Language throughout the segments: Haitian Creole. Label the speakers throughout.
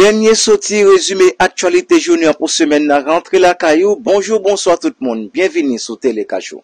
Speaker 1: Dènye soti rezime aktyalite jounen an pou semèn nan rantre lakay ou, bonjou bonswa tout moun, byenvini sou Telekach ou.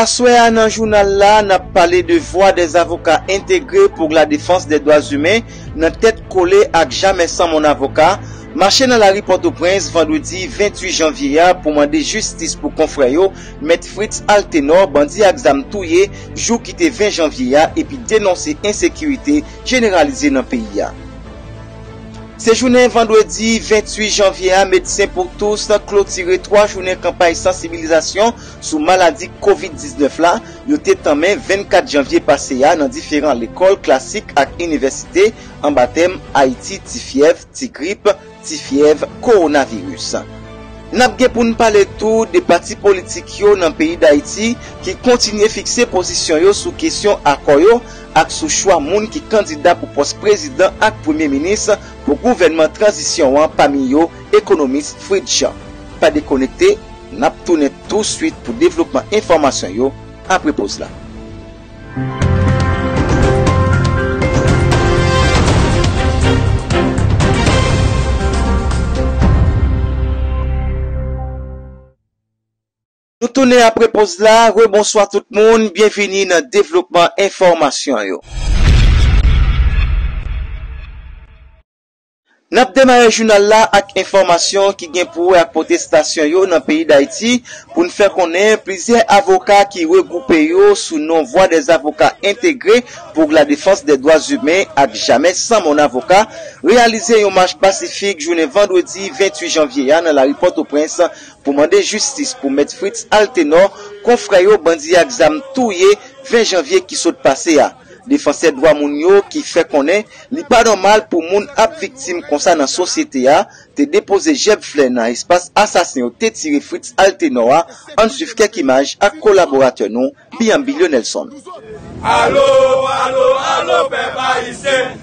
Speaker 1: Aswè a nan jounal la, n ap pale de vwa dè avoka entegre pou la defans dè dwa zimen nan tèt kole ak Jamè San Mon Avoka mache nan lari Pòtoprens vandredi 28 janvye a pou mande jistis pou konfrè yo Mèt Fritz Altenor bandi ak zam touye jou ki te 20 janvye a epi denonse ensekirite jeneralize nan peyi a. Se jounen vandredi 28 janvye a Médecins pour tous klotire 3 jounen kanpay sansibilizasyon sou maladi kovid 19 la yo te tanmen 24 janvye pase a nan diferan lekòl klasik ak inivèsite anba tèm Ayiti ti fyèv, ti grip, ti fyèv, kowonaviris. N ap gen pou n pale tou de pati politik yo nan peyi Dayiti ki kontinye fikse pozisyon yo sou kesyon akò yo ak sou chwa moun ki kandida pou pòs prezidan ak premye minis pou gouvènman tranzisyon an pami yo ekonomis Fritz Jean. Pa dekonekte! N ap tounen touswit pou devlopman enfòmasyon yo apre poz la. Nou tounen apre poz la, rebonswa tout moun, byenvini nan devlopman enfòmasyon yo. N ap demare jounal la ak enfòmasyon ki gen pou wè ak pwotestasyon yo nan peyi Dayiti pou n fè konnen plizyè avoka ki regwoupe yo sou non Vwa dè Zavoka Entegre poug la Defans dè Dwa Zimen ak Jamè San Mon Avoka reyalize yon mach pasifik jounen vandredi 28 janvye a nan lari Pòtoprens pou mande jistis pou Mèt Fritz Altenor konfrè yo bandi ak zam touye 20 janvye ki sot pase a. Defansè dwa moun yo ki fè konnen li pa nòmal pou moun ap viktim konsa nan sosyete a, te depoze jèb flè nan espas asasen yo te tire Fritz Altenor a, ann swiv kèk imaj ak kolaboratè nou Bianbilio Nelson. Alo,
Speaker 2: alo, alo pèp ayisyen!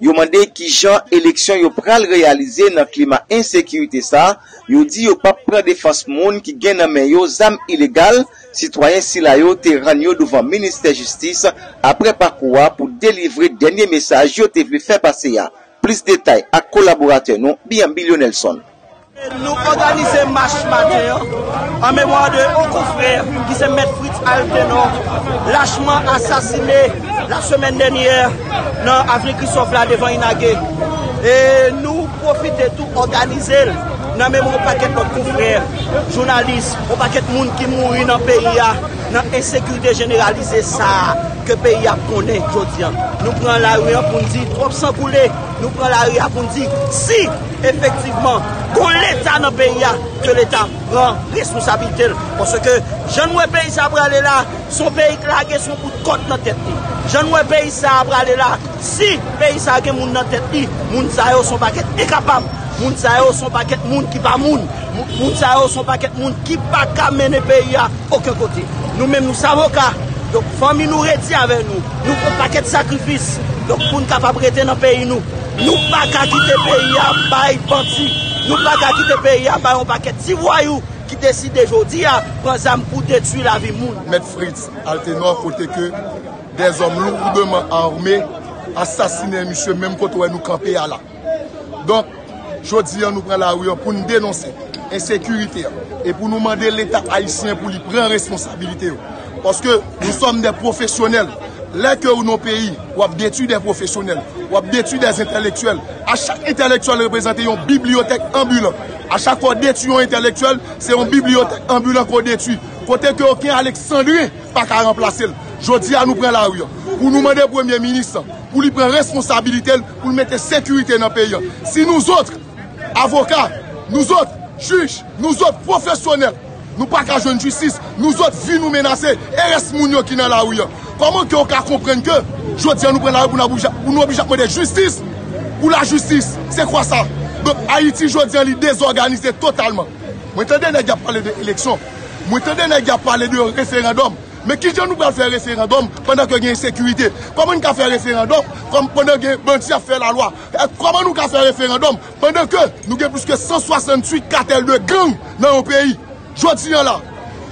Speaker 1: Yo mande ki jan eleksyon yo pral reyalize nan klima ensekirite sa, yo di yo pap pran defans moun ki gen nan men yo zam ilegal, sitwayen sila yo te rann yo douvan ministè jistis aprè pakou a pou delivre dènye mesaj yo te vle fè pase a. Plis detay ak kolaboratè nou Bianbylionelson. Nou
Speaker 3: òganize mach maten an an memwa de yon konfrè ki se Mèt Fritz Altenor lachman asasine lasemèn dènyè nan avni Kristòf la devan Inage. E nou pwofite tou òganize l nan memwa yon pakèt lòt konfrè jounalis, yon pakèt moun ki mouri nan peyi a nan ensekirite jeneralize sa a ke peyi a ap konnen jodi a. Nou pran lari an pou n di twòp san koule, nou pran lari a pou n di si! Efektivman, gon leta nan peyi a, ke leta pran responsabilite l. Paske jan nou wè peyi sa a prale la, son peyi k lage son bout kòd nan tèt li. Jan nou wè peyi sa a prale la, si peyi sa a gen moun nan tèt li, moun sa yo son pakèt enkapab, moun sa yo son pakèt moun ki pa moun, moun sa yo son pakèt moun ki pa ka mennen peyi a oken kote. Nou menm nou savoka, donk fanmi nou redi avè nou, nou fè pakèt sakrifis, donk pou n kapab rete nan peyi nou. Nou paka kite peyi a bay bandi, nou paka kite peyi a bay yon pakèt ti vwayou ki deside jodi a pran zam pou detwi lavi moun. Mèt Fritz
Speaker 4: Altenor kote ke dèzòm lourdman arme asasine misye menm kote ou wè nou kanpe a la. Donk, jodi a nou pran lari a pou nou denonse ensekirite a e pou nou mande leta ayisyen pou li pran responsabilite yo. Paske nou sòm dè pwofesyonèl. Lè ke ou nan yon peyi, w ap detwi dè pwofesyonèl. W ap detwi dè entèlektyèl. A chak entèlektyèl reprezante yon bibliyotèk anbilan. A chak fwa w detwi yon entèlektyèl, se yon bibliyotèk anbilan ke w detwi. Kote ke oken Aleksandren pa ka ranplase l. Jodi a nou pran lari an. Pou nou mande premye minis lan, pou li pran responsabilite l, pou l mete sekirite nan peyi an. Si nouzotr. Avoka, nou zot, jij, nou zot pwofesyonèl, nou pa ka jwenn jistis, nou zot vi nou menase, e rès moun yo ki nan lari an. Kòman ke ou ka konprann ke jodi an nou pran lari pou nou oblije ap mande jistis pou lajistis? Se kwa sa? Donk Ayiti jodi an li dezòganize totalman. Mwen tande nèg y ap pale de eleksyon, mwen tande nèg y ap pale de referandòm, men ki jan nou pral fè referandòm pandan ke gen ensekirite? Kòman n ka fè referandòm pandan gen bandi ap fè lalwa? Kòman nou ka fè referandòm pandan ke nou gen plis ke 168 katèl de gang nan yon peyi? Jodi an la,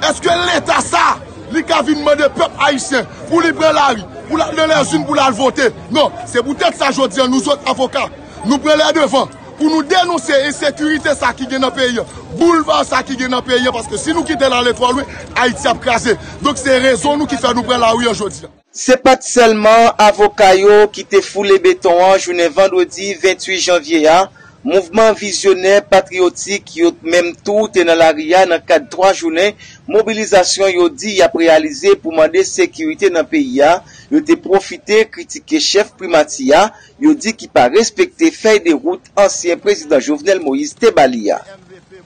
Speaker 4: èske leta sa a li ka vin mande pèp ayisyen pou li pran lari, pou l al nan lèzin, pou l al vote? Non. Se poutèt sa jodi an nou zòt avoka, nou pran lè devan pou nou denonse ensekirite sa a ki gen nan peyi an, boulva sa a ki gen nan peyi an paske si nou kite l ale twò lwen, Ayiti ap kraze. Donk se rezon nou ki fè nou pran lari an jodi an. Se pa t sèlman
Speaker 1: avoka yo ki te foule beton an jounen vandredi 28 janvye a, mouvman vizyonè patriyotik yo menm tou te nan lari a nan kad 3 jounen mobilizasyon yo di y ap reyalize pou mande sekirite nan peyi a, yo te pwofite kritike chèf primati a, yo di ki pa respekte fèy de wout ansyen prezidan Jovenel Moïse te ba li a.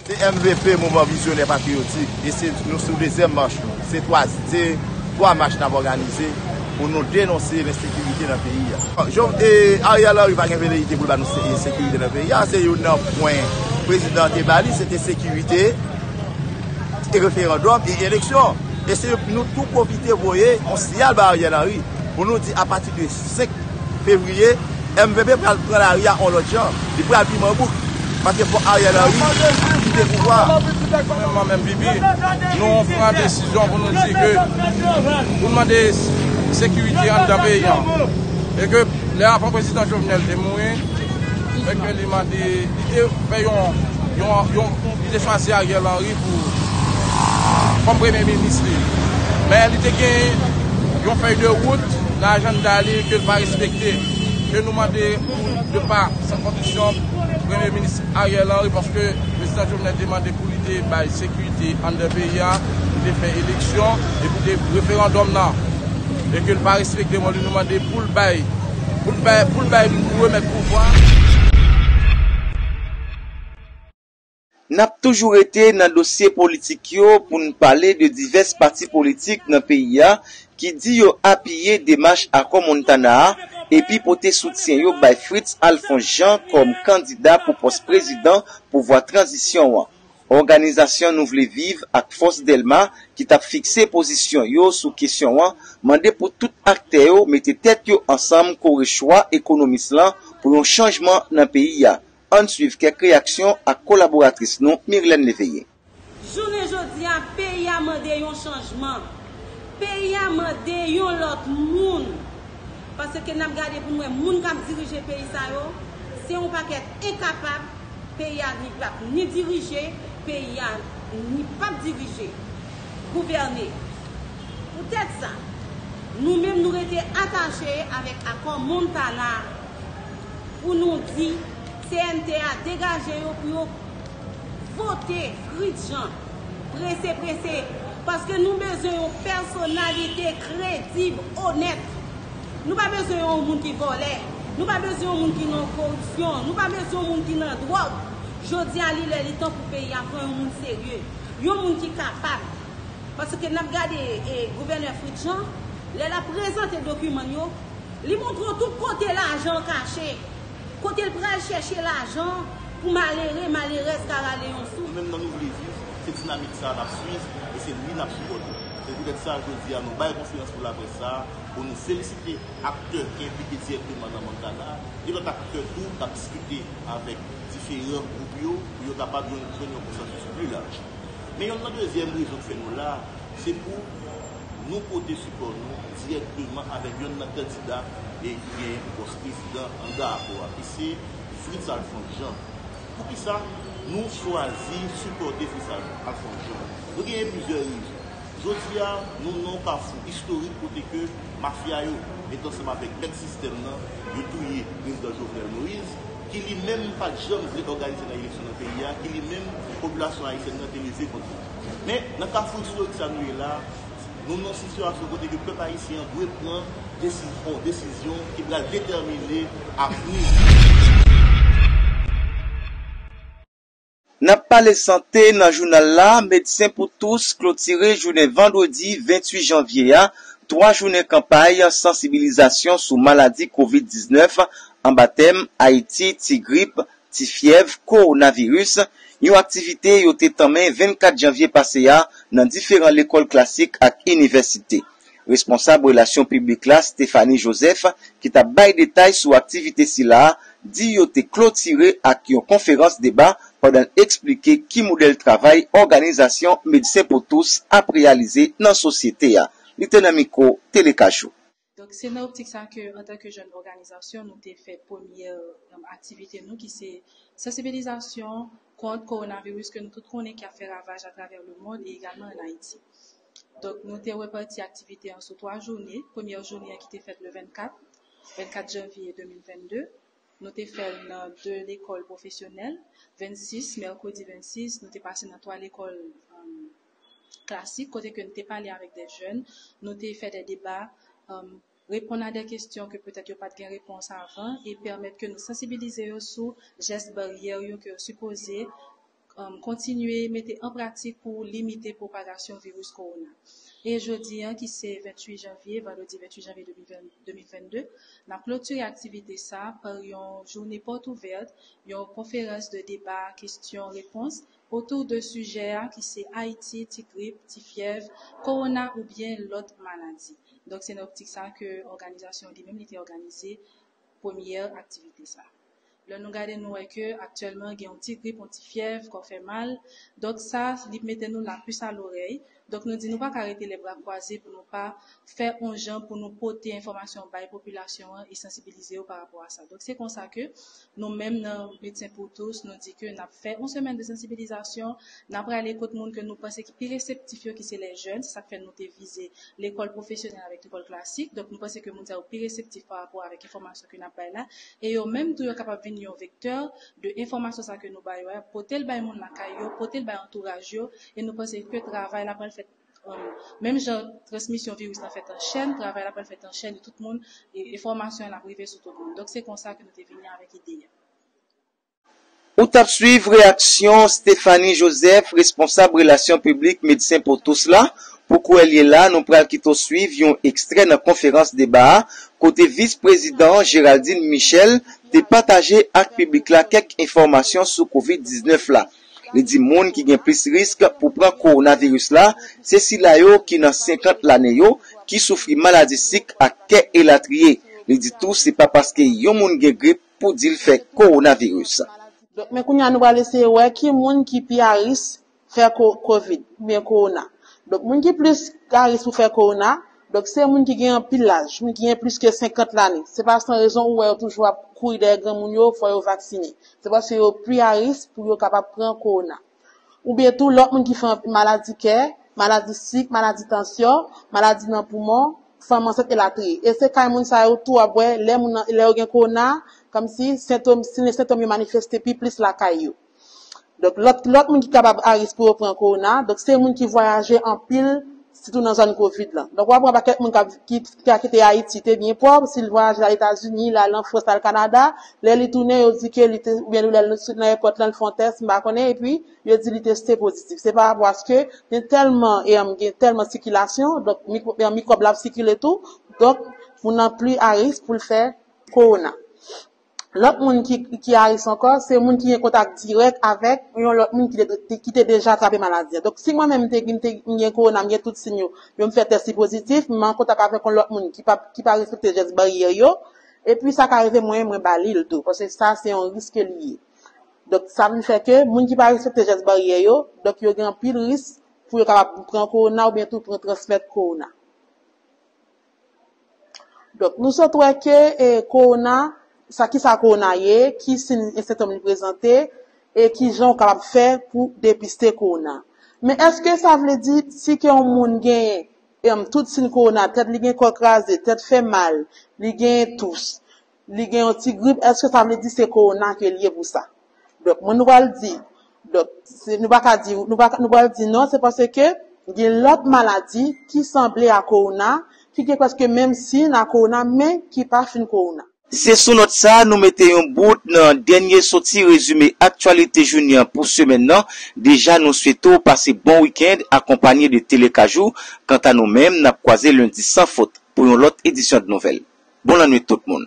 Speaker 1: Se
Speaker 5: MVP Mouvman Vizyonè Patriyotik e se nou sou dezyèm mach nou. Se twa mach n ap òganize pou nou denonse lensekirite nan peyi a. Ariel Henry pa gen veleyite pou l ba nou sekirite nan peyi a. Se youn nan pwen prezidan an te ba li, se te sekirite, referandòm e eleksyon. E se nou tou pwofite voye yon siyal ba Ariel Henry pou nou di apati de. 5 fevriye, mvp pral pran lari a on lòt jan. Li pral pi manbouk. Paske fòk Ariel Henry kite pouvwa a. Gouvenman menm pipi,
Speaker 2: nou pran desizyon pou nou di ke pou nou mande sekirite anndan peyi an. E ke lè avan prezidan Jovenel te mouri, e ke li mande. Te fè yon, yon, li te chwazi Ariel Henry pou, kòm premye minis li. Men li te gen yon fèy de wout nan ajanda li ke li pa respekte. Ke nou mande pou de pa san kondisyon premye minis Ariel Henry paske prezidan Jovenel te mande pou li te bay sekirite anndan peyi a, pou te fè eleksyon e pou te referandòm nan. E ke li pa respekte, nou mande pou li bay. Pou l bay pou remèt pouvwa.
Speaker 1: N ap toujou rete nan dosye politik yo pou n pale de divès pati politik nan peyi a ki di yo apiye demach akò Montana a epi pote soutyen yo bay Fritz Alphonse Jean kòm kandida pou pòs prezidan pouvwa tranzisyon an. Òganizasyon Nou Vle Viv ak Fòs Dèlma ki t ap fikse pozisyon yo sou kesyon an mande pou tout aktè yo mete tèt yo ansanm kore chwa ekonomis lan pou yon chanjman nan peyi a. Ann swiv kèk reyaksyon ak kolaboratris nou Mirlène Léveillé. Jounen
Speaker 6: jodi a, peyi a mande yon chanjman. Peyi a mande yon lòt moun. Pase ke nap gade pou nou wè moun kap dirije peyi sa yo, se yon pakèt enkapab, peyi a ni pap ni dirije, peyi a ni pap dirije, gouvène. Pou tèt sa, nou menm nou rete atache avèk akò Montana a, pou nou di CNT a degaje yo pou yo vote Fritz Jean. Prese prese, paske nou bezwen yon pèsonalite kredib, onèt. Nou pa bezwen yon moun ki vòlè, nou pa bezwen yon moun ki nan koripsyon, nou pa bezwen yon moun ki nan dwòg. Jodi a li lè li tan pou peyi a pran yon moun serye, yon moun ki kapab. Paske n ap gade gouvènè Fritz Jean, lè l ap prezante dokiman l yo, li montre w tout kote lajan an kache. Kote l pral chèche lajan pou malere, malerèz ka rale yon souf? Nou menm nan Nou Vle Viv,
Speaker 5: se dinamik sa a n ap suiv e se li n ap sipòte. Se poutèt sa, jodi a, nou bay konferans pou laprès sa a pou nou felisite aktè ki enplike dirèkteman nan Montana a e lòt aktè tou k ap diskite avèk diferan gwoup yo pou yo kapab yon jwenn yon konsansis pli laj. Men yonn nan dezyèm rezon k fè nou la a, se pou. Nou pote sipò nou dirèkteman avèk yonn nan kandida ki genyen pou pòs prezidan anndan akò a, ki se Fritz Alphonse Jean. Poukisa nou chwazi sipòte Fritz Alphonse Jean? Nou genyen plizyè rezon. Jodi a, nou nan yon kafou istorik kote ke mafya yo met ansanm avèk mèt sistèm nan, yo touye Prezidan Jovenel Moïse, ki li menm pa t janm vle òganize nan eleksyon nan peyi a, ki li menm popilasyon ayisyèn nan te leve kont li. Men, nan kafou istorik sa nou ye la, nou nan yon sitiyasyon kote ke pèp ayisyen an dwe pran yon desizyon ki pral detèmine avni
Speaker 1: li. N ap pale sante nan jounal la, Medsen pou Tous klotire jounen vandredi 28 janvye a, 3 jounen kanpay sansibilizasyon sou maladi Kovid 19 anba tèm Ayiti, Ti Grip, Ti fyèv kowonaviris, yon aktivite yo te tanmen 24 janvye pase a nan diferan lekòl klasik ak inivèsite. Responsab relasyon piblik la Stéphanie Joseph ki tap bay detay sou aktivite sila a di yo te klotire ak yon konferans deba pandan l eksplike ki modèl travay òganizasyon Medsen Pou Tous ap reyalize nan sosyete a. Li te nan mikwo Tele Kajou. Donk se nan
Speaker 7: optik sa ke antan ke jèn òganizasyon nou te fè premyè aktivite nou ki se sansibilizasyon kont kowonaviris ke nou tout konnen ki ap fè ravaj atravè lemond e egalman an Ayiti. Donk nou te repati aktivite an sou 3 joune, premyè joune an ki te fèt le 24, 24 janvye 2022, nou te fè l nan 2 lekòl pwofesyonèl, 26, mèkredi 26, nou te pase nan 3 lekòl. klasik kote ke n te pale avèk dè jèn, nou te fè dè deba, reponn a dè kestyon ke petèt yo pat gen repons avan e pèmèt ke nou sansibilize yo sou jès baryè yo ke yo sipoze kontinye mete an pratik pou limite pwopagasyon viris kowona. E jodi an ki se 28 janvye, vandredi 28 janvye 2022, n ap klotire aktivite sa par yon joune pòt ouvèt, yon konferans de deba kestyon repons otou de sijè a ki se Ayiti, ti grip, ti fyèv, kowona oubyen lòt maladi. Donk se nan optik sa ke òganizasyon an li menm li te òganize premyè aktivite sa. Lè nou gade nou wè ke aktyèlman gen yon ti grip, yon ti fyèv, kò fè mal, donk sa li mete nou lapis a lorèy, Donk nou di nou pa ka rete lè bra kwaze pou nou pa fè on jan pou nou pote enfòmasyon bay popilasyon an e sansibilize yo pa rapò a sa. Donk se konsa ke nou menm nan Medsen Pou Tous nou di ke n ap fè on semèn de sansibilizasyon, n ap prale kot moun ke nou panse ki pi reseptif yo ki se lè jèn, se sa k fè nou te vize lekòl pwofesyonèl avèk lekòl klasik. Donk nou panse ke moun sa yo pi reseptif pa rapò avèk enfòmasyon ke n ap bay la e yo menm tou yo kapab vin yon vektè de enfòmasyon sa ke nou ba yo a, pote l bay moun lakay yo, pote l bay antouraj yo. E nou panse ke travay la pral fèt menm jan transmisyon viris la fèt an chèn, travay la pral fèt an chèn e tout moun, enfòmasyon an ap rive sou tout moun. Donk se konsa ke nou te vini avèk ide a.
Speaker 1: Ou tap swiv reyaksyon Stephanie Joseph, responsab relasyon piblik Medsen Pou Tous la. Pou kouwèl ye la, nou pral kite w swiv yon ekstrè nan konferans deba a, kote Vis Prezidan Géraldine Michel te pataje ak piblik la kèk enfòmasyon sou Covid 19 la. Li di moun ki gen plis risk pou pran kowonaviris la se sila yo ki nan 50 lane yo, ki soufri maladi sik ak kè elatriye. Li di tou se pa paske yon moun gen grip pou di l fè kowonaviris. Donk men kounya
Speaker 8: nou pral eseye wè ki moun ki pi a ris fè kovid oubyen kowona. Donk moun ki plis a ris pou fè kowona. Donk se moun ki gen anpil laj, moun ki gen plis ke 50 lane. Se pa san rezon ou wè yo toujou ap kouri dèyè granmoun yo fò yo vaksine. Se paske yo pi a risk pou yo kapab pran kowona. Oubyen tou lòt moun ki fè anpil maladi kè, maladi sik, maladi tansyon, maladi nan poumon, fanm ansent elatriye. E se kay moun sa yo tou wap wè lè moun nan lè yo gen kowona, kòmsi sentom, siy sentòm yo manifeste pi plis lakay yo. Donk lòt lòt moun ki kapab a risk pou yo pran kowona, donk se moun ki vwayaje anpil sitou nan zòn kovid lan. Donk wap wè pakèt moun kap ki ka kite Ayiti te byen pòv, si l vwayaje l al Etazini, l al an Frans, l al Kanada, lè li tounen yo di ke li te oubyen lè l sot nan èpòt lan l fè yon tès m pa konnen epi yo di li teste pozitif. Se pa rapò aske gen tèlman e gen tèlman sikilasyon donk mikwo mikwòb la ap sikile tou donk moun nan pli a risk pou l fè kowona. Lòt moun ki a ris ankò, se moun ki gen kontak dirèk avèk yon lòt moun ki te deja trape maladi a. Donk, si mwen menm m gen kowona, m gen tout siy yo, yo m fè tès li pozitif, m an kontak avèk yon lòt moun ki pa respekte jès baryè yo, epi sa ka rive mwen, mwen ba li l tou. Paske sa se yon ris ke li ye. Donk, sa vin fè ke moun ki pa respekte jès baryè yo, donk yo gen anpil ris pou yo kapab pran kowona oubyen tou pran transmèt kowona. Donk nou sot wè ke e kowona, sa ki sa kowona ye, ki sin e sentòm li prezante, e ki jan ou kapab fè pou depiste kowona. Men èske sa vle di si ke yon moun genyen e m tout sin kowona, tèt li gen kò kraze, tèt fè mal, li genyen tous, Li gen yon ti grip eske sa vle di se kowona ke li ye pou sa? Donk moun nou pral di, donk se nou pa ka di nou pa nou pral di non se paske gen lòt maladi ki sanble a kowona ki gen prèske menm siyn a kowona men ki pa fin kowona. Se sou nòt sa
Speaker 1: nou mete yon bout nan dènye soti rezime aktyalite jounen an pou semèn nan, deja nou swete w pase bon weekend akonpanye de Telekaj ou, kanta nou menm nap kwaze lendi san fot pou yon lòt edisyon dnouvèl. Bon lannwit tout moun.